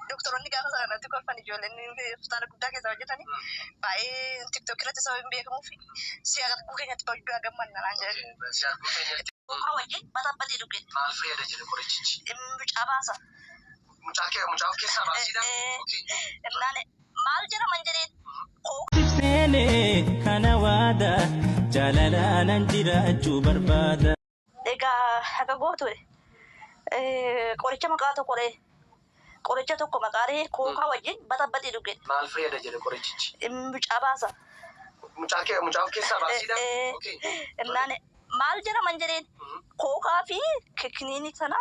Doktoroonni gaafa sana irratti kolfan ijoolleen hospitaala guddaa keessa hojjetan baay'ee tiktookii irratti sababa hin beekamuuf si arguu keenyatti baay'ee gammanna naan jedhan. Mucaa wajjin batabbate dhuge. Maal fayyada jedhe qorichichi? Mucaa baasa. Mucaa kee mucaa of keessaa baasiidha? Innaan Maal jira man jedheen koo. Sif seene kana waada. Jaalalaanan jiraachuu barbaada. Egaa akka gootu qoricha maqaa tokko ree qoricha tokko maqaa ree kookaa wajjin baxabaxii dhugi. Maal fayyada jedhe qorichichi? Mucaa baasa. Mucaa mucaa of keessaa baasiidha? Ee. Okay. Innaan Maal jedhaman jedheen kookaa fi kikniinii sana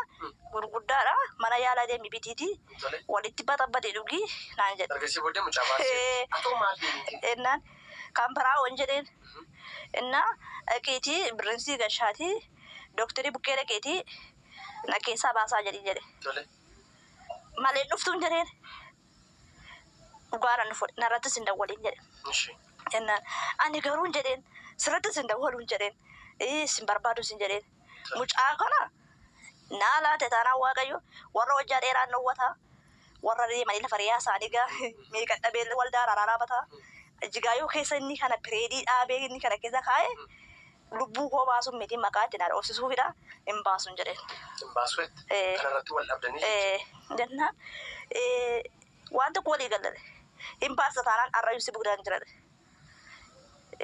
gurguddaadha mana yaalaa deemi bitiitii Tole. walitti baxabbadii dhugi naan jedhe. Ergasii booddee mucaa baasee. Atoo maal deemte? Ennaan kan biraa wan jedheen innaa dhaqiitii birriin sii gashaatii dooktarii bukkee dhaqiitii na keessaa baasaa jedhiin jedhe. Tole. Malee hin dhuftuun jedheen dhugaadha nu fuudhe narrattis hin dawwaliin jedhe. Ishi. Jennaan ani garuun jedheen sirrattis hin dawwaluun jedheen ee sin barbaadu sin jedheen mucaa kana naa laate taanaan waaqayyo warra hojjaa dheeraa hin dhowwataa warra deemanii lafa reeyaa isaanii gaa meeqan dhabeellee waldaa araaraa dhaabataa jigaayoo keessa inni kana pireedii dhaabee inni kana keessa kaa'ee Lubbuu koo baasuun miti, maqaa itti na dhoofsisuufidha, hin baasun jedheen. Hin baasu jette? Ee. Kana irratti wal dhabdanii jechuudha? Ee. Jennaan waan tokko walii galle jedhe. Hin baasta taanaan har'ayyuu si buknaan jira jedhe.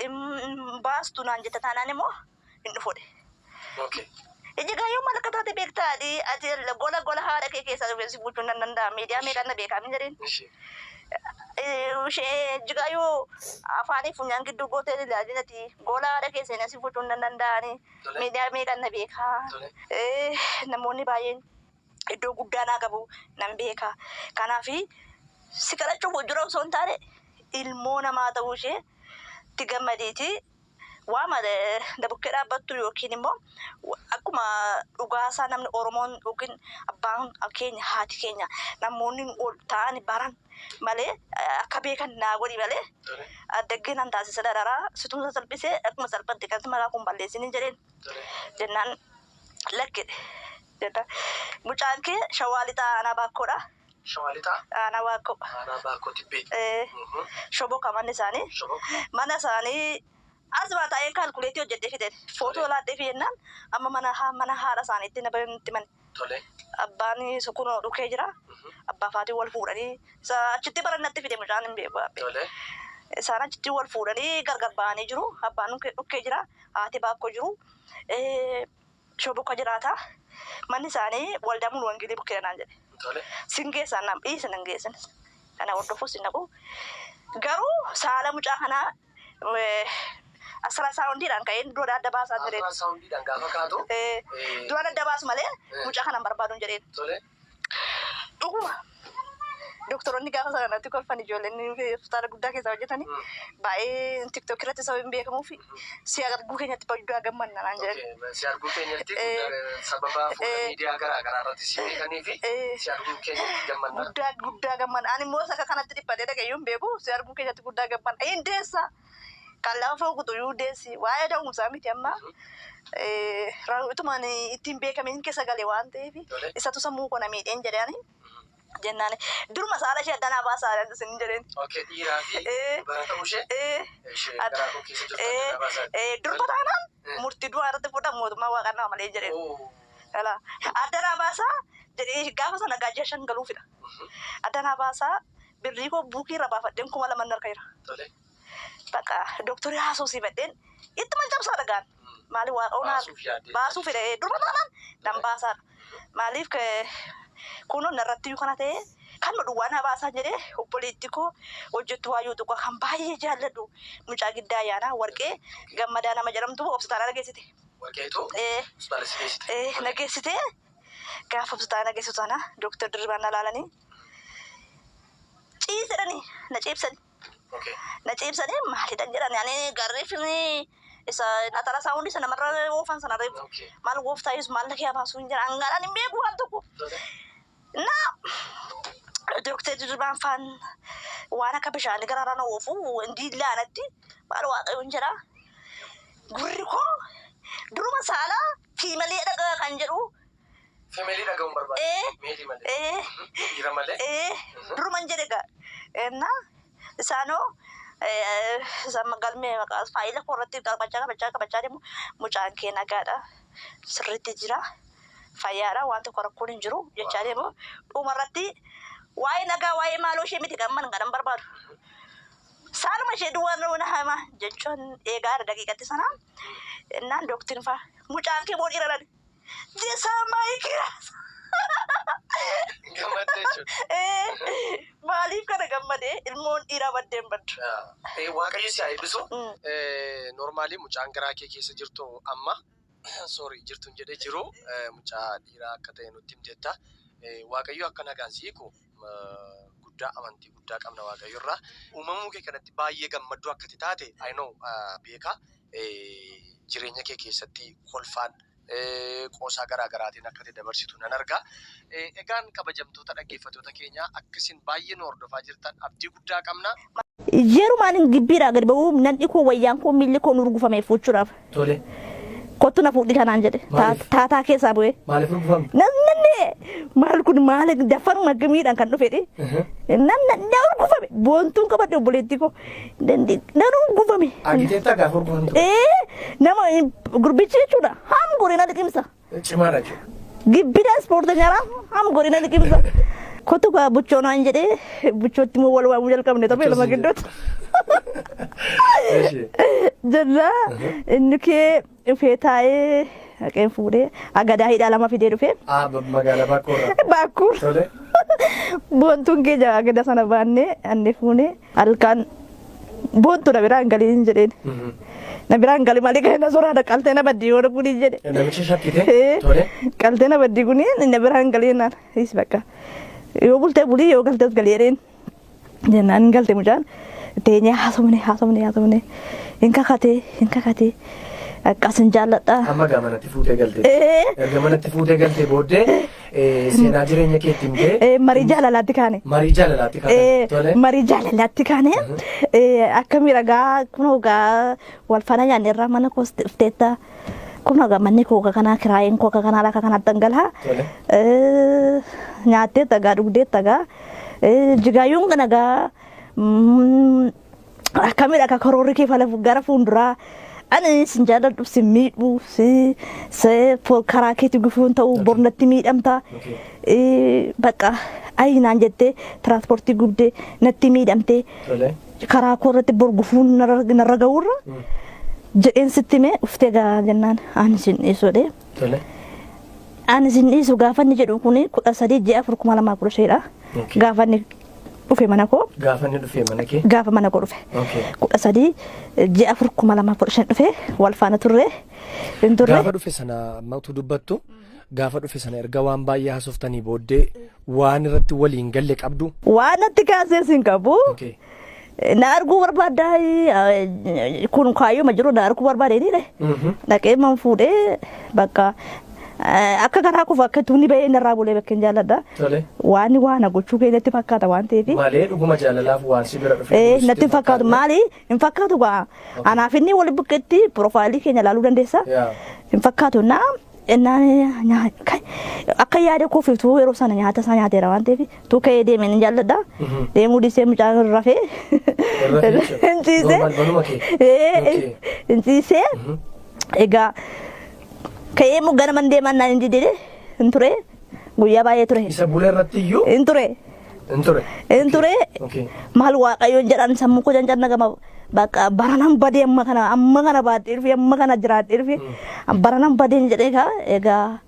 Hin baastu naan jetta taanaan immoo hin dhufu jedhe. Okay. Ija gaayoo maal akka taate beektaa ati ati gola gola haadha kee keessaa dhufee si buuchuun nan danda'a miidiyaa meeqaan na beekaa min jedhin. Ishee iji gaayoo afaanii funyaan gidduu gootee ilaalin ati gola haadha kee seenaa si buuchuun nan danda'ani miidiyaa meeqaan na beekaa. Namoonni baay'een iddoo guddaa naa qabu nan beeka. Kanaaf si kadhachuuf hojjira osoo hin taane ilmoo namaa ta'uu ishee itti gammadiitii. Waama na bukkee dhaabbattu yookiin immoo akkuma dhugaasaa namni Oromoon yookiin abbaan keenya haati keenya namoonni ol ta'an baran malee akka beekan naa godhi malee addaggee nan taasisa dararaa situmsa salphisee akkuma salphatte kan maraa kun balleessiniin jedheen jennaan lakkidhe jennaan mucaan kee shawaa lixaa anaa baakkoodha. Shawaa Lixaa. Aanaa Baakkoo. Aanaa Baakkoo Tibbee. Ee. Mhm. Shoboka manni isaanii. Shoboka. Mana isaanii asuma taa'een kaalkuleetii hojjedhee fideen footoo Tole. laadheefi jennaan amma mana ha- mana haadha isaaniitti na bareedu natti mani. Tole. Abbaan isa kunoo dhukee jira. Mhm. Abbaa faatiin wal fuudhanii isa achitti baran natti fide mucaan hin beeku abbe. Tole. Isaan achitti wal fuudhanii gargar ba'anii jiru. Abbaan dhukkee dhukkee jira. Haati baakkoo jiru. Ee, Shoo bukka jiraata. Manni isaanii Waldaa Mulu Wangeelii bukkeedha naan jedhe. Tole. Sin geessaan naan dhiisi nan geessin. Kana hordofuus hin dhaqu. Garuu saala mucaa kanaa eh, asiraasaawundiidhaan ka'een du'a adda baasaa jedheen. Asiraasaawundiidhaan gaafa kaatu. Eh, Ee. du'a adda baasu malee Eh. mucaa kanan barbaadun jedheen. Tole. Dhuguma doktoroonni gaafa sana natti kolfan ijoolleen hospitaala guddaa keessaa hojjetani baay'ee tiktok irratti sababni beekamuuf si arguu keenyatti baay'ee gammanna naan jedhan. Okay, si arguu keenyatti Eh. guddaa- sababa fuula Eh. miidiyaa garaa garaa irratti si beekanii fi Eh. si arguu keenyatti gammanna. Guddaa guddaa gammanna. Ani immoo isa akka kanatti dhiphatee dhaga'ee hin beeku si arguu keenyatti guddaa gammanna. Hin deessa. kan lafa kutu yuu deessi waa'ee da'umsaa miti amma utumaan ittiin beekamin keessa gale waan ta'eef isatu sammuu koo na miidheen jedhani jennaan duruma saala ishee addanaa baasaa jedhan isin jedheen. Okkee dhiiraa fi Ee. dubara ta'uu ishee Ee, ishee Adda- garaa koo keessa jirtu ee, adda baasaa. ee, durba taanaan Ee. murtii du'aa irratti fudha mootummaa waaqaa nama malee jedheen. Oo. Ala addanaa baasaa jedhee gaafa sana gaajjaa shan galuufidha. Mhm. Addanaa baasaa Birrii koo buukii irraa baafadheen kuma laman narka jira. Tole. Bakka doktorii haasofsiifadheen ittuman cabsaa dhagaan. Maaliif waaqa hunaa Baasuuf yaaddee. baasuu fedha ee, durba taanaan nan baasaadha. Maaliif ke- kunoo narratti iyyuu kana ta'ee kanuma duwwaa na baasaan jedhee obboleettii koo hojjettuu Waayyuu Xuqaa kan baay'ee jaalladhu mucaa giddaa ayyaanaa warqee gammadaa nama jedhamtu hospitaala na geessite. Warqeetu Ee, hospitaala si geessite. ee, na geessite gaafa hospitaala na geessitu sana doktar Dirribaan na ilaalanii ciisedhani na ciibsani na ciibsani maalidha jedhani ani garreeffini isa atara isaa hundi sana marra oofan sana reef maal gooftaa yesus maal kee abaasuu hin jedhan gaadhaan hin beeku waan tokko na doktee dirribaan faan waan akka bishaanii garaarraa na oofu hundi laanatti maal waaqayyo hin jedha gurri koo duruma saalaa fiimalee dhagaa kan jedhu Femeelii dhaga'uun barbaada. Ee. Meetii malee. ee Dhiira malee. ee duruman jedhe gaa ennaa isaanoo ee, isa galmee maqaa faayila koo irratti qabachaa qabachaa qabachaa deemu mucaan kee nagaadha sirriitti jira fayyaadha waan tokko rakkoon hin jiru jechaa deemu dhuma irratti waa'ee nagaa waa'ee maaloo ishee miti kan man kan barbaadu saanuma ishee duwwaa nuuna hama jechuun eegaa daqiiqatti sana ennaan dooktiin faa mucaan kee moo dhiira dha Jesaa maayii kiraas. Gammaddee jechuudha. Maaliif kana gammade ilmoon dhiiraa baddee hin baddu. Eh, Waaqayyo si haa eebbisu. Mm. Eh, Normaalii mucaan garaa kee keessa jirtu amma sorry jirtuun jedhe jiru eh, mucaa dhiiraa akka ta'e nutti himteetta. Eh, Waaqayyo akka nagaan si hiiku guddaa amantii guddaa qabna waaqayyo irraa uumamuu kee kanatti baay'ee gammadduu akka itti taate I know beeka jireenya kee keessatti kolfaan qoosaa garaa garaatiin akka itti dabarsitu nan argaa. Egaan kabajamtoota dhaggeeffatoota keenyaa akka isin baay'ee nu hordofaa jirtan abdii guddaa qabna. Yerumaan hin gibbiidhaa gad ba'uu nan'i koo wayyaan koo miilli koo nurgufame fuuchuudhaaf. Tole. Kottu na fuudhi kanaan jedhe. Taataa keessaa bu'ee. Maaliif rugufame? Namni maal kun maal daffaruma gamiidhaan kan dhufedhe. Namni na urgufame boontuun qabadde obboleettii koo nan urgufame. Argiteetta gaafa urgufamtu? Ee nama gurbichi jechuudha haam goree na liqimsa. cimaa dhaqe. Gibbida ispoorteenyaa raafam godhina liqimsa. Kottu kaa buchoo naan jedhee buchootti immoo wal waamuu jalqabne tapha lama gidduutti. Jennaa inni kee dhufee taa'ee haqeen fuudhee agadaa hidhaa lama fidee dhufee. Magaalaa Baakkoo. Baakkuu. Boontuun kee jaa agadaa sana baannee annee fuunee. Halkan boottu na biraan galii hin jedheen. Na biraan gali malee kan na soraadha qaltee na baddii yoo dhuguu hin jedhe. Namicha shakkite Eh, tole. Qaltee na baddii kun na biraan galii naan is bakka. Yoo bultee bulii yoo galtees galii jedheen. Jennaan hin galte mucaan teenyee haasofne haasofne haasofne hin kakatee hin kakatee akkas hin jaalladhaa. Amma gaa manatti fuutee galte. Eh. Erga manatti fuutee galte booddee Eh, Seenaa jireenya keetti himtee. Eh, marii jaalalaatti kaane. Marii jaalalaatti kaane. Eh, Tole. marii jaalalaatti kaane eh, akka miidhagaa kun hogaa wal faana nyaanne irraa mana koos dhufteetta kun hogaa manni koo akka kanaa kiraayeen koo akka kanaa akka kanaa dhangalaa Tole. Eh, nyaattee tagaa dhugdee tagaa Eh, jigaayyuun kan egaa mm, akkamidha akka karoorri kee fala gara fuulduraa ani sin jaalladhu sin miidhu si se fol karaa keetti gufuun ta'u Okay. bornatti miidhamta Okay. Eh, bakka ayi naan jettee tiraanspoortii gubdee natti miidhamtee Tolee. karaa koo irratti bor gufuun narra narra ga'uurra Mm. jedheen sitti mee uftee gaa jennaan ani sin dhiisodhe Tolee. ani sin dhiisu gaafanni jedhu kun kudha sadii ji'a afur kuma lamaa kudha shaniidha Okay. gaafanni dhufe mana koo Gaafa inni dhufee mana kee. gaafa mana koo dhufe Okay. kudha sadii ji'a afur kuma lama kudha shan dhufe wal faana turre hin turre Gaafa dhufe sana amma utuu dubbattu gaafa dhufe sana erga waan baay'ee hasoftanii booddee waan irratti waliin galle qabdu. waan natti kaasees hin qabu Okay. Na arguu barbaaddaa eh, kun kaayyooma jiru na arguu barbaadeenidha. Dhaqee man fuudhee bakka eh, akka garaa kufa akka tuunni ba'ee narraa bulee bakka hin jaalladha. Tole. Waan waan na gochuu kee natti fakkaata waan ta'eef. Malee dhuguma jaalalaaf waan si bira dhufe. Eh, natti hin fakkaatu maali hin fakkaatu gaa anaaf inni wal buqqetti piroofaayilii keenya ilaaluu dandeessa Yaa. hin fakkaatu naa Ennaan nyaata akka yaada koof utuu yeroo sana nyaata isaa nyaateera waan ta'eef utuu ka'ee deemee nan jaalladha. Deemuu dhiisee mucaan irra rafee. Irra jechuudha. Hin ciisee. Normal, manuma kee. Ee, Okay. Hin ciisee. Egaa ka'ee immoo gara man deemaan naan hin didee hin ture. Guyyaa baay'ee ture. Isa bule irratti iyyuu Hin ture. hin ture. Hin ture. Okay. Maal waaqayyoon jedhan sammuu koo janjanna gama bakka baranan badee amma kana amma kana baadhee dhufe amma kana jiraadhee dhufe baranan badeen jedhee kaa egaa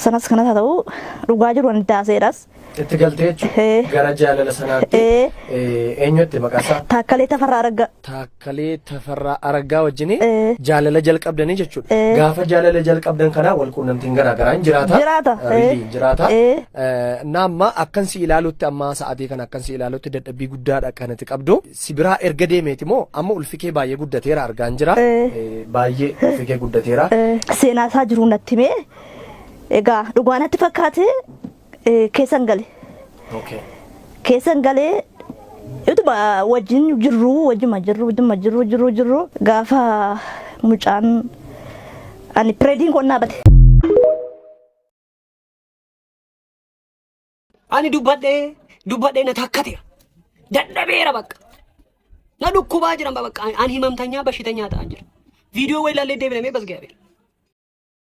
sanas kanas haa ta'u dhugaa jiru ani taaseedhas. Itti galtee Eh. jechuudha. Gara jaalala sanaatti Eh. eh, eenyutti maqaasaa? Taakkalee tafarraa arga. Taak- Kalee Tafarraa Araggaa wajjini Ee. jaalala jalqabdanii jechuudha. Ee. Gaafa jaalala jalqabdan kanaa wal quunnamtiin garaa garaa hin jiraata. Jiraata. Eh, Ee. Riiliin jiraata. Ee. Eh, Na amma akkan si ilaalutti amma sa'aatii kana akkan si ilaalutti dadhabbii guddaadha kan itti qabdu. Si biraa erga deemeeti moo amma ulfi kee baay'ee guddateera argaan jira. Ee. Eh, Baay'ee ulfi kee guddateera. seenaa isaa jiru natti himee egaa dhugaa natti fakkaate eh, keessan gale. Okay. Keessan galee utuma wajjin jirru wajjuma jirru wajjuma jirru jirru jirru gaafa mucaan ani pireediin kun dhaabate. Ani dubbadhee dubbadhee na takkateera. Dadhabeera bakka. Na dhukkubaa jiran bakka. Ani himamtanyaa bashitanyaa ta'an jira. Viidiyoo wayii ilaallee deebinamee bas ga'eera.